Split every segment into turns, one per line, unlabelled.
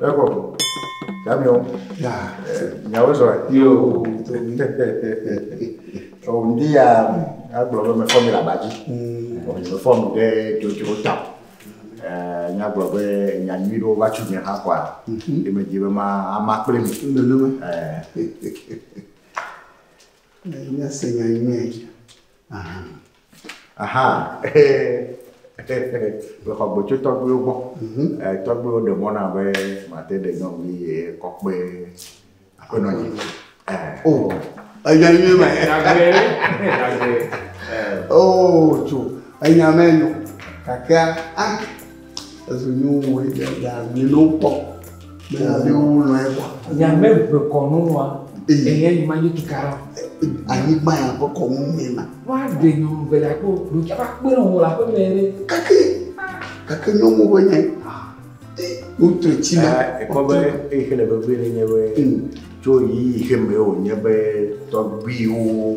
Eko. Damiɔ. Ya. Nyawo zɔ. Yo. O ndi ya agblɔ be mefɔ mi le aba dzi. O mi mefɔ mi ɖe dzodzro ta. Ɛɛ nyagblɔ be nya nyui ɖewo va tso nye hã kɔa. Ye me di be ma ama kple mi. Nenema.
Ɛɛ. Nya se nya nyuie. aha
mexɔ gbe tso tɔgbuiwo gbɔ mhm. eh, tɔgbuiwo ɖe mɔ na be mate ɖe nyɔnuvi ye kɔkpe aƒenɔ nyi
enya nyuie ma o tso enya mɛ nyo kakea a Ezo nyo wɔ yi ɖe ya mi no kpɔ. Me ya mi wo lɔ ye kwa. Ya me ve kɔ no
wa. Eye yi ma yi tu kara. Anyi gba
ya ko kɔ mu me na. Wa de nyo nu ve
la ko do ja ba kpe no la ko me re. Kake.
Kake nyo mo be nye. Wo tre ti na. E ko be
e ke le be ve le nye be. Tso yi yi ke me o nye be tɔgbi wo.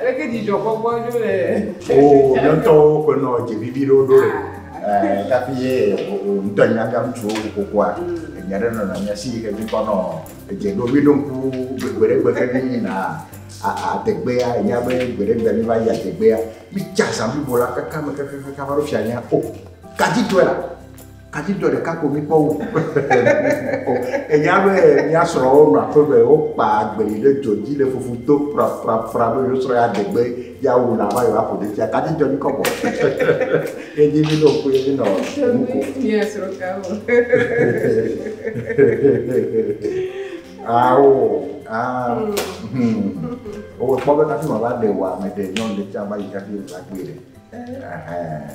Aleke dzidzɔkpɔkpɔ ɖo le Oo, mía ŋutɔwo
ƒe nɔ dze vivi ɖewo ɖo le. Ɛɛ, tafi ye wò, wò ŋutɔ ènyina mía ŋutsuwo kokokua, enya ɖe nɔna mía si yi ke mí kpɔnɔ edze ɖo. Mí ɖo ŋku gbe ɖe gbe ke mí yina a, a, adegbea, ènya be gbe ɖe gbe mí va yi adegbea, mí tsa zã blibo la kaka me kakakaka va ɖo fiaɖea, o, Kadi tɔe la, Adzidzɔ ɖeka ko mi kpɔ wu. Enya be mia srɔ wo nɔ aƒe me, wo kpa agbeli ɖe dzɔ dzi le fufu to pra pra pra be yo srɔ ya degbe ya wu la va yo aƒo ɖe tia. Adzidzɔ mi kɔbɔ. Ye dzi mi no ko ye mi nɔ nu ko. Mia srɔ
ka wo. Awo.
Ah. Hmm. Owe kpɔ be kafi ma va de wa me de nyɔnu ɖe tia va yi kafi va gbe ɖe. Eh.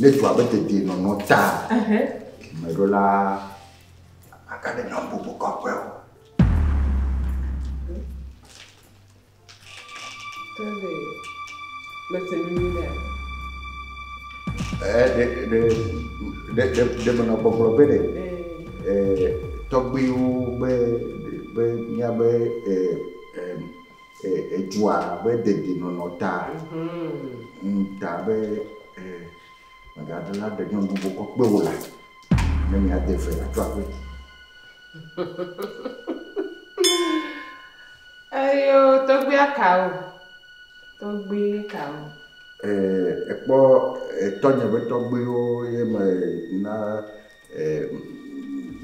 Ne dua be dedienɔnɔ ta dumeɖola agaɖe nyɔnububu kɔƒe o. ɖe menɔ gbɔgblɔ be ɖe tɔgbuiwo be be míabe E, edzua be dedienɔnɔ ta. Ŋ ta be e, mègaɖe la ɖe nyɔnu bubu kɔ kpe wò la, ne miade ve la tso aƒe.
Eyo tɔgbia kawo? Tɔgbi kawo?
E, ekpɔ etɔnye be tɔgbiwo ye me na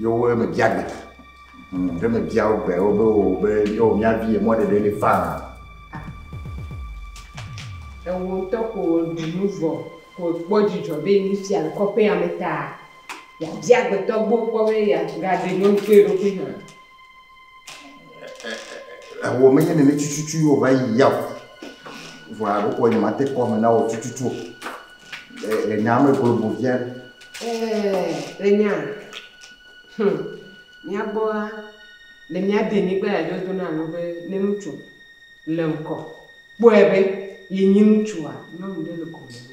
Ye wo me bia gbe. Ye me bia wo gbe wo be wo be yo mia vi ye mɔ ɖeɖe le fa.
Ewo ŋutɔ ko ɖu nu vɔ ko kpɔ dzidzɔ be mi fia le kɔƒea me ta. Ya bia gbetɔ gbɔ kpɔ be ya ga ɖe nyɔnu kple eɖokui hã. Eho menye nene tututu
ye wòva yi ya o. Vɔa ɖeko nyemate kpɔ ame na wò tututu o. Le nyaa me globo via. Ɛɛ,
le nyaa, hum, mía gbɔa, le mía denyigba ya dzi wodona nu be ne ŋutsu le ŋkɔ kpɔe be yenye ŋutsua, nyɔnu ɖe le gome nɛ.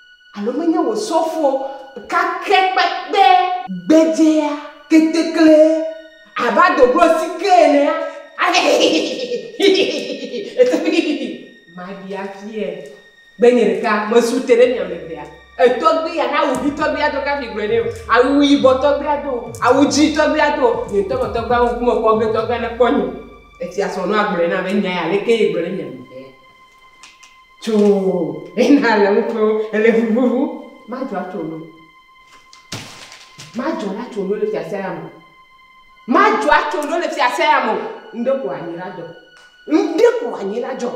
Alo menye wò sɔfo kakɛ kpekpe. Gbedzea ketekle abe adoglo sike enea, ale hihihihihihihihihihi ete hihihi maɖi afiae be nye ɖeka mesu te ɖe mia me evea. Etɔgbi ya na awu ʋi tɔgbi ado kafi gblɔe nɛ o, awu yibɔ tɔgbi ado o, awu dzi tɔgbi ado o, nye ŋutɔ me tɔgbia ŋku me kpɔ ge tɔgbia ne kpɔ nye. Efia srɔ̃nua gblɔe na be nya ya aleke ye gblɔ ɖe mia me evea. Tso ena le ŋutɔ ele vuvuvu. Madzɔ atso no. Madzɔ atso no le fiase ya mo. Madzɔ atso no le fiase ya mo. Ŋde ko anyi la dzɔ. Ŋde ko anyi la dzɔ.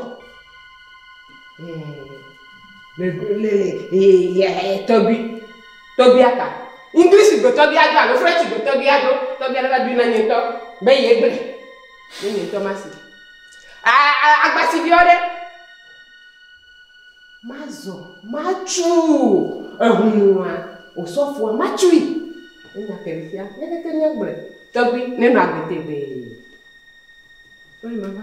Le le le tɔgbi. Tɔgbi aka. English gbe tɔgbi ado alo French gbe tɔgbi ado. Tɔgbi ale va bi na nye tɔ. Be ye gbe. Be nye tɔ masi. Agba si biɔ ɖe. Mazɔ matsu eŋu nua. Osɔfoa matsui. Enya ke ɖe fia. Leke ke nye gblɔe. Tɔgbui ne nɔ agbe tegbee. Wole ma va.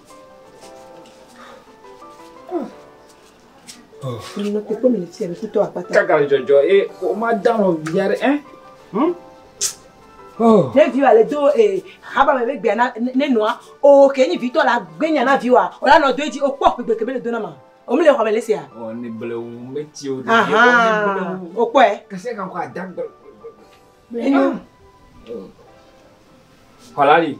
Kaka dzɔdzɔ ye
woma da nɔ via ɖe ɛ. Ne viwa le do
ee haba me gbegbe na ne nɔa o ke nyi vitɔ la gbenya na viwa o la nɔ do edzi o kpɔ gbegbe ke me le do na ma. O mi le xɔ me le sia. O ne bele wu me
ti o. Aha.
O kpɔ e. Kase kan ko adagbe.
Enyo. Kɔlali.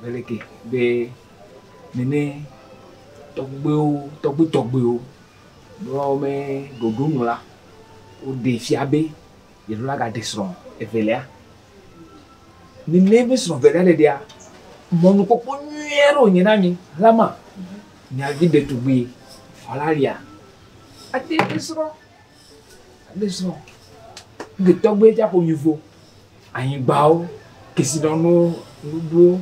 Beleke be nene tɔgbuiwo tɔgbui tɔgbuiwo be woawo me ɖoɖo nu la, woɖe fia be yeɖo la gaɖe srɔ̃ evelia. Nene be srɔ̃ evelia ɖeɖea, mɔnukpɔkpɔ nyui aɖe wònye na mi. Alama, miavi ɖetugbui, Valeria, ate ŋu asrɔ̃. Alesɔ ŋke tɔgbe tsa ko nyifo anyigbawo kesinɔnu nuɖuwo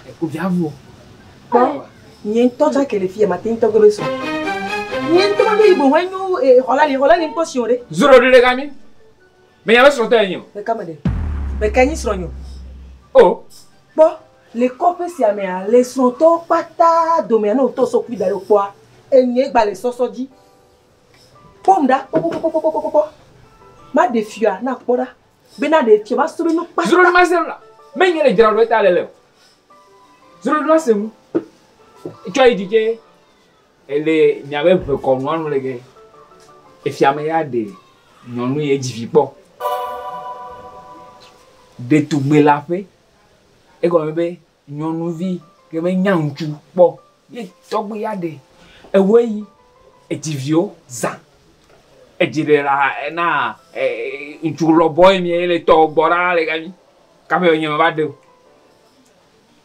ekuviavu. Kpɔ
nye ŋutɔ tsa ke le fiya mate ŋutɔ gbe sɔ. Nye ŋutɔ ma ɖo yibo hɔn enyo xɔla li xɔla li ŋkpɔ si o ɖe. Zoro ɖe ɖe kami.
Me nya be srɔtɔ enyi o. Meka me ɖe.
Meka nyi srɔ nyo. O.
Kpɔ
le kɔƒe sia mea le srɔtɔwo kpata domea ne wotɔ sɔ kpui daɖo kpɔa enye gba le sɔsɔ dzi. Kpɔm ɖa kpɔkpɔkpɔkpɔkpɔkpɔ. Maɖe fiɔa na kpɔ ɖa. Bena ɖe fiɔ ma srɔ̃ nu kpata. Srɔ̃ ma srɔ̃ la.
Me nye le dzra ɖo ta le le. Srɔ̃ ma srɔ̃ nu. Tsɔ yi dike. Ele nya be ve kɔ nua nu le ge. Efia me ya de nyɔnu ye dzi vi kpɔ. Ɖetugbe la ƒe. Egɔme be Nyɔnuvi ke me nya ŋutsu kpɔ ye tɔgbe ya ɖe ewe yi edzi viwo zã edzi ɖe la ena ŋutsu lɔ bɔ ye mie le tɔ gbɔ ɖa le gami kaƒe enye me va ɖeo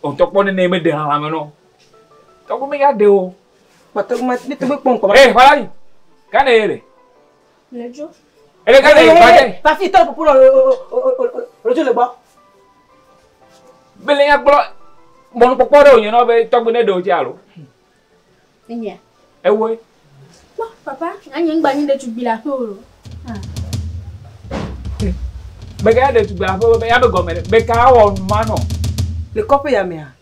otɔ kpɔ nene me ɖe hame nɔ tɔgbe me ya ɖeo. Mete ŋu me
te ŋu kpɔ ŋkɔ va. Ee xɔla yi
gane ye le.
Ledzo. Ele ka le
yɔ bade. Tafi tɔ pupu
lɔ ledzo le gbɔ.
Bele ya kplɔ bɔnu kpɔkpɔ ɖe wònye nɔ be tɔgbe ne ɖewo tse alo.
Enyia. Ewoe.
Kpɔ papa
anyi ŋgba nyi ɖetugbui le aƒe o.
Beka ya ɖetugbui le aƒe o be ya be gɔme ɖe beka awɔ nu ma nɔ. Le kɔƒe ya
mea.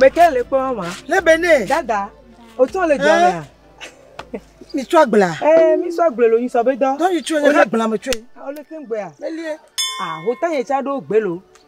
meke le kpɔ ma ne be ne dada
o
tɔ le jɔ mea
mi tsɔ agbla ee mi tsɔ agbla lo
nyi sɔ be dɔ dɔ yi tsɔ ne ka agbla me
tsɔ yi o le te gbea
melie ah
o ta ye
tsa ɖo gbe lo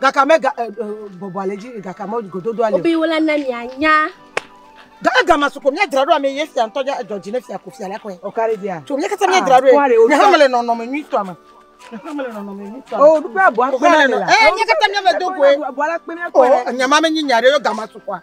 Gaka me ga eh, eh, bɔbɔ ale dzi gaka me gododo ale. Obi wala na mia nya.
Ga ega
ma suko mia dzra ɖo ame ye fia ntɔ dza dɔ dzi ne fia ko fia la kɔe. O kare dia. Tso mia kata
mia dzra ɖo. Ah,
ne hame le nɔnɔ me nyui tɔ me. Oh, du pe abua pe na le
la. Eh, mia kata mia me do
koe. Abua la pe mia koe. Oh,
nyama me nyi nya ɖe
yo gama sukoa.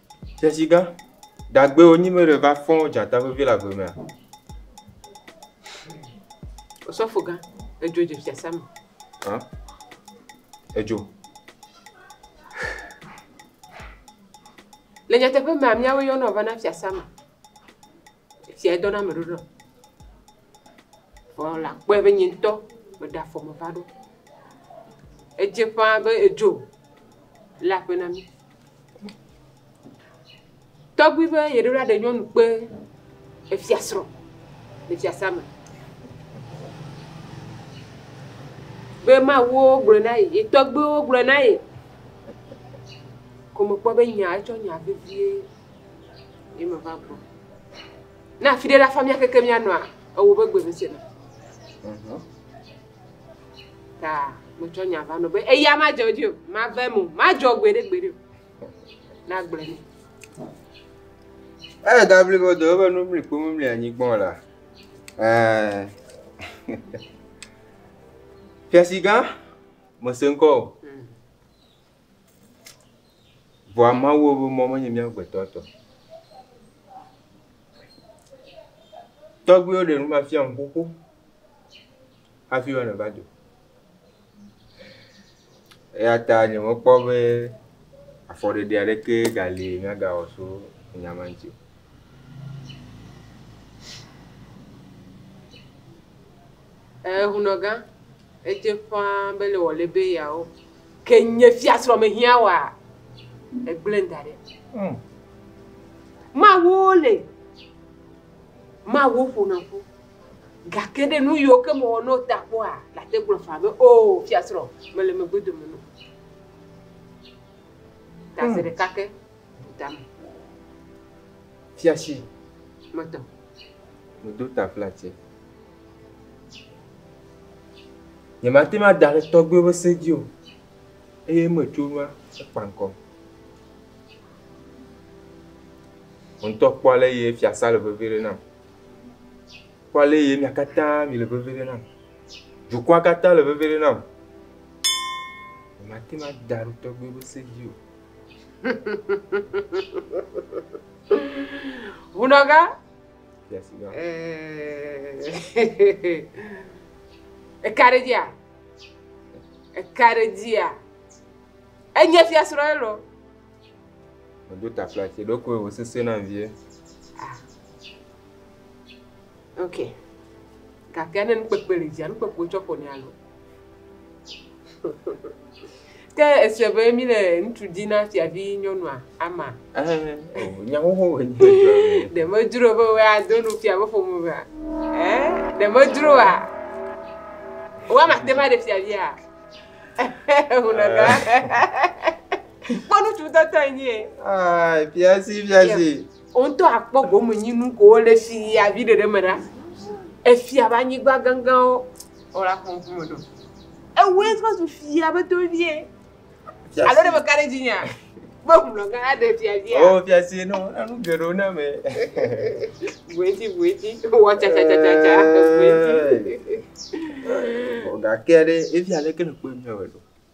Tesi gã, dagbe wo nyi mele va fɔn dzata vevi le agbe mea?
Osɔfo gã, edzo dze fiasã me. Hã?
Edzo.
Le nyateƒe mea, míawo yɔnɔ vana fiasã me. Esia edɔ na ame ɖoɖo. Vɔ la kpɔe be nye ŋutɔ meɖe afɔ me va ɖo. Edze ƒãa be edzo le aƒe na mí. Tɔgbui be yeɖo la ɖe nyɔnu kpe efiasrɔ̃ le fiasã me. Be mawuwo gblɔ na ye, ye tɔgbuiwo gblɔ na ye. Ko mekpɔ be nya etsɔ nya vevie Ye me va gbɔ. Na afi ɖe la fa mía keke mía nɔa ewo be gbe mise na. Mhm. Ta me tsɔ nya va nɔ be eya ma dzɔ dzi o, ma ve mo, ma dzɔ gbe ɖe gbe ɖe o. Na gble ni. Eye
da bli bo do be nu bli kpo mu bli anyi gbɔ la. Eh. Fiasi gã, me se ŋkɔ o. Vɔa Mawu ƒe mɔ menye mía gbetɔ tɔ o. Tɔgbuiwo ɖe nu va fia nu xoxo hafi be neva do. Eya ta nye mekpɔ be afɔɖeɖe aɖeke gali míagawɔ tso nya ma ŋuti o.
Ehunɔgã, Edze ƒãa be le wòle be yeawo, ke nye fiasrɔ̃ mehiã woa? Egblẽm da ɖi. Mm. Mawu le, Mawu ƒona ƒu, gake ɖe nu yiwo ke mewɔ no ta kpɔa, late gblɔ faa be, O, oh, fiasrɔ̃, mele megbe dome no. Ta se mm. ɖeka ke, bu tame.
Fiasi. Metɔ. Medo taflatse. Nyemate ŋu ada ɖe tɔgbuiwo ƒe se dzi o eye eme tso nua ekpa ŋkɔm. Wò ŋutɔ kpɔ ale ye fiasã le veve ɖem nam. Kpɔ ale ye mia katã mile veve ɖem nam. Dukɔa katã le veve ɖem nam. Nyemate ŋu ada ɖe tɔgbuiwo
ƒe se dzi o. Ŋunɔga. Ekaɖedzia? Ekaɖedzia? Enye fiasrɔ̃ ye lɔ.
Meɖo ta flati ɖokoe wò sese na vie. Ah.
Ok. Gake ne nukpekpe le dzia, nukpekpe tsɔ ƒo ne alo. Ke èsee be míle ŋutsu di na fiavinyɔnua ama? Nya
xoxo wòe nye sia. Ɖe
medzro be wòe ado nu fia be ƒome mea? Ɖe medzroa? Woama ate ŋu aɖe fiavia? Kpɔ ŋutsu ŋutɔ tɔ enye. Fiasi fiasi.
Wo ŋutɔ akpɔ gome
nyinu ko wole fiavi ɖeɖe me ɖa. Efia be anyigba ganganwo. Wole afɔ ŋku me ɖo. Ewue va zu fia be tovie. Alo ɖe meka ɖe dzinyea? Be ŋlɔ gã aɖe fia fia. O fia si no
enu geɖewo na me.
Bueti bueti. Wɔ tsa tsa tsa tsa tsa. Bueti.
Gake ɖe efia leke le kpɔe mia me ɖo.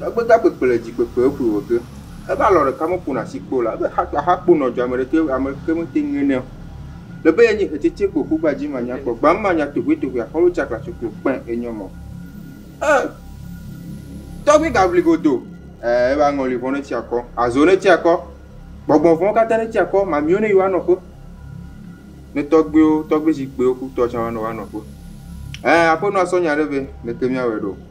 Egbe da kpekpe le dzi kpekpe eƒoe wɔ ge. Ebe alɔ ɖeka me ƒona asi kpɔ o la, ebe ha kple aha kpo nɔ dzi ame ɖeke ame ɖeke me te ŋe nɛ o. Le be yenye hetsetse kpo ƒu gba dzi ma nya kpɔ gba ma nya tohue tohue a xɔlo tsa klatsɔ klo kpɛ enyɔ mɔ. E tɔgbi ga vli godo. E ebe aŋɔli vɔn etsi akɔ. Azo ne tsi akɔ. Gbɔgbɔn vɔn kata ne tsi akɔ ma miwo ne yi wa nɔ ƒe. Ne tɔgbiwo tɔgbi zikpiwo ku tɔ tsa wa nɔ wa nɔ ƒe. E aƒenɔ asɔ nya ɖe vɛ le ke mia wɛ ɖo.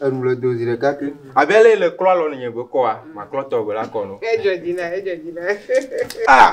Enu le do zi ɖeka ke. Abe ale yi le klɔ alɔ nɔ nye gbe kɔa, maklɔ tɔ gbe la kɔ nɔ. Edzɔ dzi na, edzɔ dzi
na.
Ah!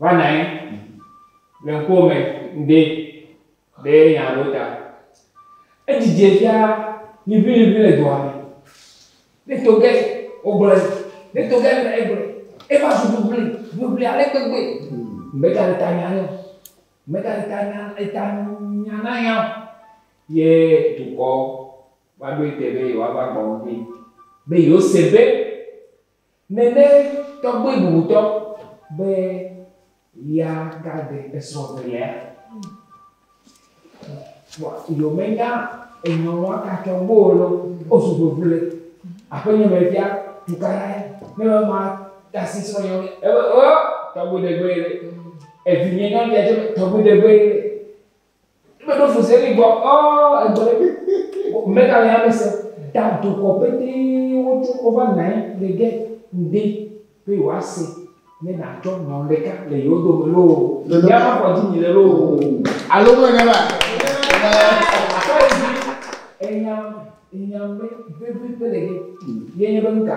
Va nɔ anyi le ŋkuwò me ŋde be nya aɖewo ta. Edzidze fia liʋiliʋi le dua me. Ne to ge wogblɔe, ne to ge ame egblɔe, eva zu ʋliʋli, ʋliʋli ale gbegbe be ta le ta nya nɛ o. Be ta le ta nya eta nya na nya o. Ye dukɔ va ɖoe te be yewoava gbɔ ŋdi be yewose be. nène tɔgbui bubutɔ be ya gade esrɔ̃ velea. Vɔ yio menya enyɔ̃ wa katsɔ gbɔ o lɔ, o su vevule. Aƒe nyɔ me fia, tuka la ye, ne me ma tasi srɔ̃ nyɔ me, ebe o, tɔgbui degbe ye le. Evi nye nyɔ me fia tɔgbui degbe ye le. Eme ɖo fu zeli gbɔ ɔ egbɔ ɖe ko mega le ame se da dokɔ pete wo tso wo va nae le ge ŋde be yo a se ne na tsɔ nyɔn ɖeka le yo do me loo ya ma kɔ dzi mi le loo alo me ne ba
kɔ yi dzi
enyam enyam be be be be le ge ye nye be ŋka.